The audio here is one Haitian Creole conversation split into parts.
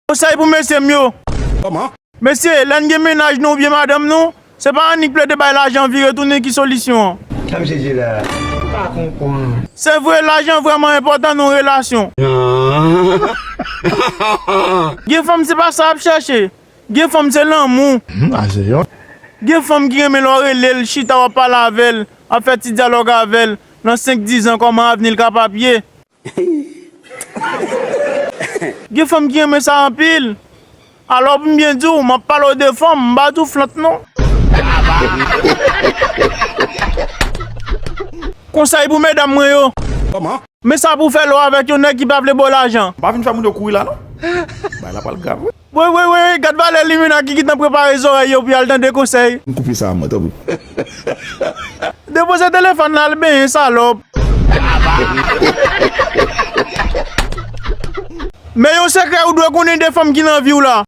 Konsèy pou mesye m yo. Mesye, lè n gen mennaj nou oubyen madanm nou, se pa annik plede bay lajan vire tounen ki solisyon an. Sa misye di la m pa konprann. Se vre, lajan vrèman enpòtan nan yon relasyon. Gen fanm se pa sa y ap chèche. Gen fanm se lanmou. Gen fanm ki renmen lè w rele l, chita w ap pale avè l, ap fè ti dyalòg avè l, nan senk dizan kòman avni l ka pa ap ye. Gen fanm ki renmen sa anpil. Alò pou m byen di w, m ap pale w de fanm, m pa di w flank non. Konsèy pou medam mwen yo. Men sa pou w fè lè w avèk yon nèg ki pa vle ba w lajan. Pa vin fè moun yo kouri la non. Bagay la pral grav wi. Woy woy woy gad valè limena ki gintan prepare zorèy yo pou yal tande konsèy. M koupe sa mwen tanpri. Depoze telefòn la al benyen salòp. Men yon sekrè ou dwe konnen de fanm ki nan viw la.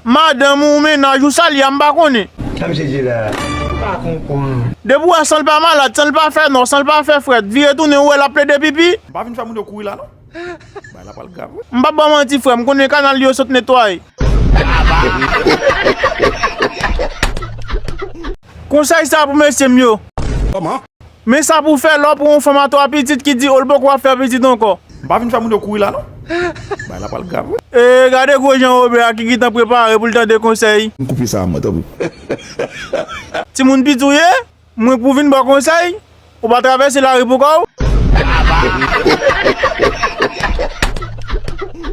Madanm ou, mennaj ou, sa li a m pa konnen. Tanm sezi la, m pa konprann. Depi ou wè sanl pa malad, sanl pa fè nò, sanl pa fè frèt, vire tounen ou wè lap plede pipi. M pa vin fè moun yo kouri la non. Bagay la pral grav wi. M pap baw manti frè m konnen kanal yo sot netway. Konsèy sa pou mesye m yo. Men sa pou w fè lè w pran yon fanm a 3 pitit ki di ou l poko ap fè pitit ankò. M pa vin fè moun yo kouri la non. Bagay la pral grav wi. Ee gade gwo jan Robert a ki gitan prepare pou l tande konsèy. Koupe sa a man tanpri. Timoun piti w ye? Mwen pou vin baw konsèy, ou pa travèse lari pou kòw?